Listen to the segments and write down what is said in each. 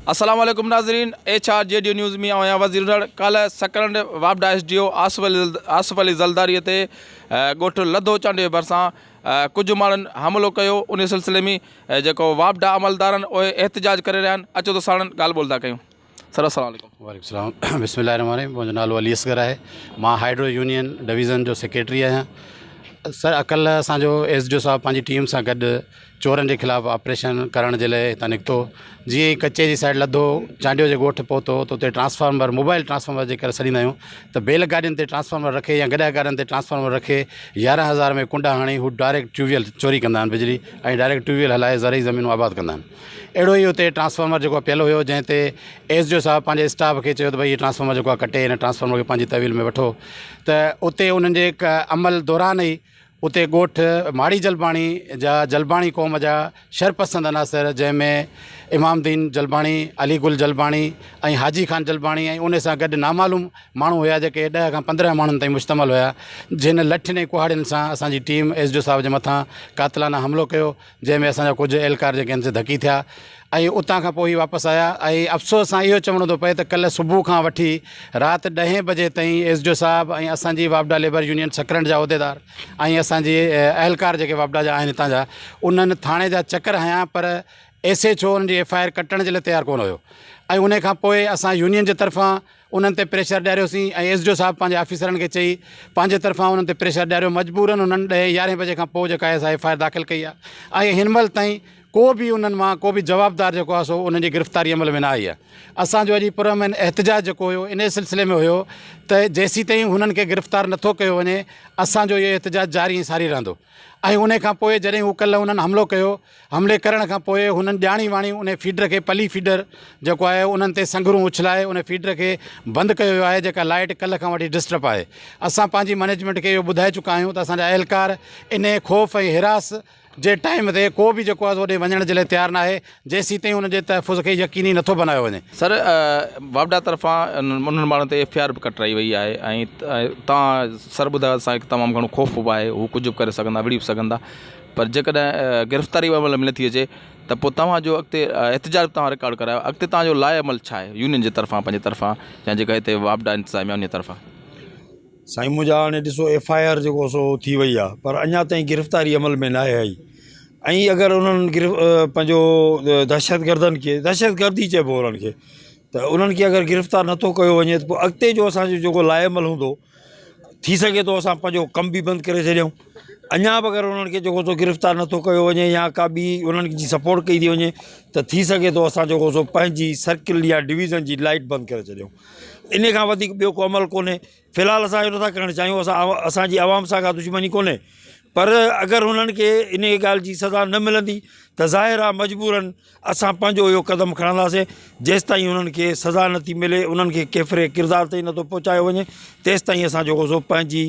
السلام عليڪم ناظرين ايڇ آر جي ڊيو نيوز ۾ آهيان وزيرنڙ ڪالهه سڪرنڊ واپڊا S D O Asif Ali Zardari تي ڳوٺ لڌو چانڊيو ڀرسان ڪجهه ماڻهن حملو ڪيو انهي سلسلي ۾ جيڪو واپڊا عملدارن اهي احتجاج ڪري رهيا آهن اچو ته ساڻن ڳالهه ٻولهه ٿا ڪيون سر السلام عليڪم. وعليڪم السلام بسم الله الرحمٰن الرحيم منهنجو نالو علي اصغر آهي مان هائيڊرو يونين ڊويزن جو سيڪريٽري آهيان سر ڪلهه اسانجو ايس ڊي او صاحب پنهنجي ٽيم سان گڏ چورن جي خلاف آپريشن ڪرڻ جي لاء هتان نڪتو جيئن ئي ڪچي جي سائيڊ لڌو چانڊيو جي ڳوٺ پهتو ته اتي ٽرانسفارمر موبائل ٽرانسفارمر جي ڪري سڏيندا آهيون ته بيل گاڏين تي ٽرانسفارمر رکي يا گڏهه گاڏين تي ٽرانسفارمر رکي يارهن هزار ۾ ڪنڊا هڻي هو ڊائريڪٽ ٽيوب ويل چوري ڪندا آهن بجلي ۽ ڊائريڪٽ ٽيوب ويل هلائي زرعي زمينون آباد ڪندا آهن اهڙو ئي اتي ٽرانسفارمر جيڪو پيل هيو جنهن تي ايس ڊي او صاحب پنهنجي اسٽاف کي چيو ته ڀئي هي ٽرانسفارمر جيڪو آهي ڪٽي هن ٽرانسفارمر کي پنهنجي تحويل ۾ وٺو ته اتي انهن جي عمل دوران ئي اتي ڳوٺ ماڙي جلباڻي جا جلباڻي قوم جا شرپسند عناصر جنهن ۾ امام دين جلباڻي، علي گل جلباڻي ۽ حاجي خان جلباڻي ۽ ان سان گڏ نامعلوم ماڻهو هيا جيڪي ڏهه کان پندرهن ماڻهن تائين مشتمل هيا جن لٺين ۽ ڪهاڙين سان اسان جي ٽيم ايس ڊي او صاحب جي مٿان قاتلانه حملو ڪيو جنهن ۾ اسان جا ڪجهه اهلڪار جيڪي آهن سي ڌڪي ٿيا ۽ اتان کان پوء هي واپس آيا ۽ افسوس سان اهو چوڻو ٿو پئي ته ڪلهه صبح کان وٺي رات ڏهين بجي تائين ايس ڊي او صاحب ۽ اسان جي واپڊا ليبر يونين سڪرنڊ جا عهديدار ۽ اسان جي اهلڪار جيڪي واپڊا جا آهن هتان جا انهن ٿاڻي جا چڪر هنيا پر ايس ايڇ او انهن جي ايف آء آر ڪٽڻ جي لاء تيار ڪونه هيو ۽ ان کان پوء اسان يونين جي طرفان انهن تي پريشر ڏياريوسين ۽ ايس ڊي او صاحب پنهنجي آفيسرن کي چئي پنهنجي طرفان انهن تي پريشر ڏياريو مجبورن انهن ڏهين يارهين بجي کان پوء جيڪا آهي سا ايف آء آر داخل ڪئي آهي ۽ هن مهل تائين ڪو به انهن مان ڪو به جوابدار جيڪو آهي سو انهن جي گرفتاري عمل ۾ نه آئي آهي اسان جو اڄ پرامن احتجاج جيڪو هيو انهي سلسلي ۾ هيو ته جيسيتائين هنن کي گرفتار نٿو ڪيو وڃي اسان جو اهو احتجاج جاري ۽ ساري رهندو ۽ انهي کان پوء جڏهن هو ڪلهه انهن حملو ڪيو حملي ڪرڻ کان پوء هنن ڄاڻي واڻي انهي فيڊر کي پلي فيڊر جيڪو آهي انهن تي سنگهرون اڇلائي انهي فيڊر کي بند ڪيو ويو آهي جيڪا لائيٽ ڪلهه کان وٺي ڊسٽرپ آهي اسان پنهنجي مئنيجمينٽ کي اهو ٻڌائي چڪا آهيون ته اسان جا اهلڪار انهي خوف ۽ حراس جي ٽائيم تي ڪو به جيڪو آهي اوڏي وڃڻ جي لاء تيار ناهي جيسيتائين انهن جي تحفظ کي يقيني نٿو بنايو وڃي. سر واپڊا طرفان انهن ماڻهن تي ايف اي آر به ڪٽرائي وئي آهي ۽ توهان سر ٻڌايو اسان کي تمام گهڻو خوف به آهي هو ڪجهه به ڪري سگهندا وڙهي به سگهندا پر جيڪڏهن گرفتاري جو عمل ملي ٿي اچي ته پوء توهان جو اڳتي احتجاج به توهان رڪارڊ ڪرايو اڳتي توهان جو لاء عمل ڇا آهي يونين جي طرفان پنهنجي طرفان يا جيڪا هتي واپڊا انتظاميا ان جي طرفان سائين منهنجا هاڻي ڏسو ايف آء آر جيڪو سو ٿي وئي آهي پر اڃا تائين گرفتاري عمل ۾ ناهي آئي ۽ اگر انهن گرف پنهنجو دهشت گردن کي دهشت گرد ئي چئبو انهن کي ته انهن کي اگر گرفتار نٿو ڪيو وڃي ته پوء اڳتي جو اسانجو جيڪو لاء عمل هوندو ٿي سگهي ٿو اسان پنهنجو ڪم به بند ڪري ڇڏيون اڃا به اگري انهن کي جيڪو سو گرفتار نٿو ڪيو وڃي يا ڪا ٻي انهن جي سپورٽ ڪئي ٿي وڃي ته ٿي سگهي ٿو اسان جيڪو سو پنهنجي سرڪل يا ڊويزن جي لائيٽ بند ڪري ڇڏيون ان کان وڌيڪ ٻيو ڪو عمل ڪونهي في الحال اسان اهو نٿا ڪرڻ چاهيون اسان اسانجي عوام سان ڪا دشمني ڪونهي پر اگري انهن کي ان ڳالهه جي سزا نه ملندي ته ظاهر آهي مجبورن اسان پنهنجو اهو قدم کڻنداسين جيستائين انهن کي سزا نه ٿي ملي انهن کي ڪيفر ڪردار تائين نٿو پهچايو وڃي تيستائين اسان جيڪو سو پنهنجي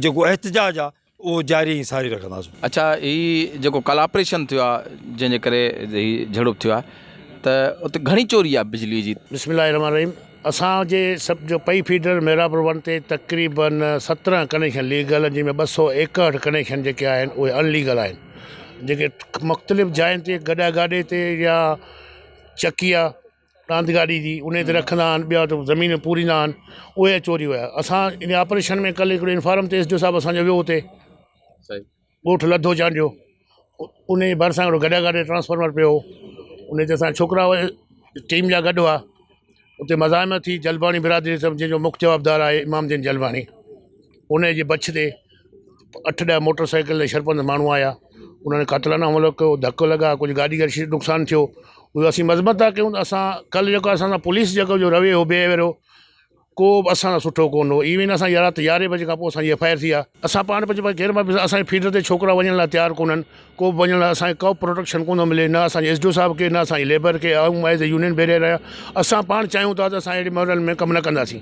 جيڪو احتجاج آ اهو جاري ۽ ساري رکنداسون. اڇا هي جيڪو ڪالهه آپريشن ٿيو آ جنهن جي ڪري هي جهڙوپ ٿيو آ ته اتي گهڻي چوري آ بجلي جي. بسم الله الرحمن الرحيم اسان جي سب جو پئي فيڊر محرابر ون تي تقريبن سترهن ڪنيڪشن ليگل جن ۾ ٻه سؤ ايڪهٺ ڪنيڪشن جيڪي آهن اهي ان ليگل آهن جيڪي مختلف جاين تي گڏا گاڏي تي يا چڪي آ راند گاڏي جي اني تي رکندا آن ٻيا تو زمين پوريندا آن اوئي ا چوري ويا اسان اني آپريشن ۾ ڪل هڪڙو انفارم تي ايس ڊي او صاحب اسان جو ويو اتي ڳوٺ لڌو چانڊيو اني ڀرسان هڪڙو گڏا گاڏي ٽرانسفارمر پيو هو اني تي اسان ڇوڪرا ٽيم جا گڏ هئا اتي مزاحمت ٿي، جلباڻي برادري سمجهي جنهن جو مک جوابدار آهي امام الدين جلباڻي انهيء جي بڇ تي اٺ ڏهه موٽر سائيڪل ۽ شرپند ماڻهو آيا انهن قاتلانه حملو ڪيو ڌڪ لڳا ڪجهه گاڏي کي شديد نقصان ٿيو اهو اسين مذمت ٿا ڪيون ته اسان ڪل جيڪو اسان سان پوليس جيڪو جو رويو هو بيهيويئر هو ڪو به اسان سان سٺو ڪونه هو ايون اسان جي رات يارهين بجي کان پوء اسان جي ايف آء آر ٿي آهي اسان پاڻ پنهنجي پاڻ کي غير محفوظ اسان جي فيلڊ تي ڇوڪرا وڃڻ لاء تيار ڪونه آهن ڪو به وڃڻ لاء اسان کي ڪو به پروٽيڪشن ڪو نه ملي نه اسانجي ايس ڊي او صاحب کي نه اسانجي ليبر کي آئون ايز اي يونين بيريل آهيان اسان پاڻ چاهيون ٿا ته اسان اهڙي ماڊل ۾ ڪم نه ڪنداسين